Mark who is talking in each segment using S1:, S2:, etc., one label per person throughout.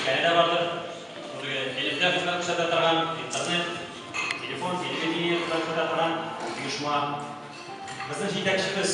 S1: Биредә бардыр бүлеге элемтә хезмәт күрсәтә торган интернет, телефон, телевидение хезмәт күрсәтә торган оешма. Безнең җитәкчебез,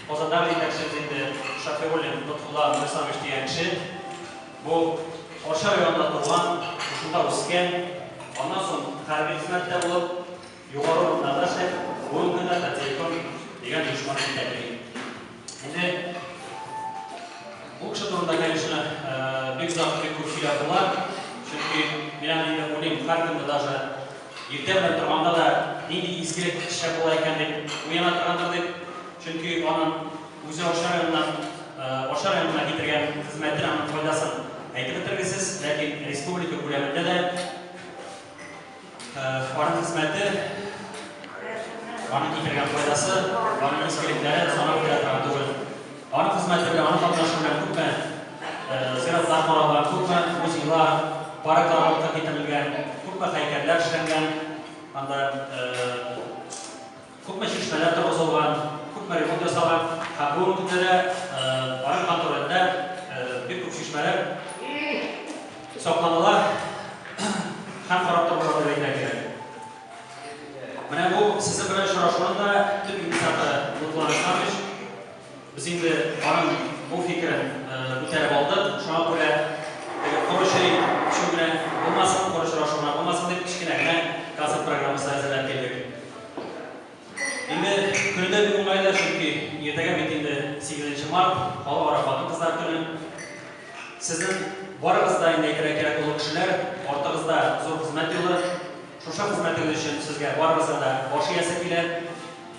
S1: Казандагы җитәкчебез инде Шафигуллин Лотфулла Миңлисламович дигән кеше. Бу Арча районында туган, шунда үскән, аннан соң хәрби хезмәттә булып, Югары урыннарда сез бүгенге көндә патриотым дигән оешманы җитәклим. Инде бу кеше турында, конечно, бик озак, бик күп сөйләп була. Чөнки мин аны инде уйлыйм, һәркөнне даже иртә белән торганда да нинди изге кеше була икән дип уяна торгандыр дип. Чөнки аның үзе Арча районыннан, Арча районына китергән хезмәтен, аның файдасын әйтеп бетергесез, ләкин республика күләмендә дә Аның хезмәте, аның китергән файдасы, аның изгелекләре санап бирә торган түгел. Аның хезмәте белән, аның катнашы белән күпме зиратлар каралган, күпме музейлар, парклар алып китерелгән, күпме һәйкәлләр эшләнгән, анда Күпме чишмәләр торгызылган, күпме ремонт ясалган һәм бүгенге көндә дә Арык хан түрендә бик күп чишмәләр сакланыла һәм карап торыла дип әйтергә кирәк. Менә бу сезнең белән очрашуның да төп инициаторы Лотфулла Александрович. Без инде аның бу фикерен күтәреп алдык, шуңа күрә теге коры чәй эчү белән булмасын, коры очрашу белән булмасын дип, кечкенә генә концерт программасы әзерләп килдек. Инде көне дә бик уңайлы, чөнки иртәгә бит инде сигезенче март, Халыкара хатын-кызлар көне. Сезнең барыгыз да инде әйтергә кирәк олы кешеләр, артыгызда зур хезмәт юлы. Шушы хезмәтегез өчен сезгә барыбызга да баш иясе килә.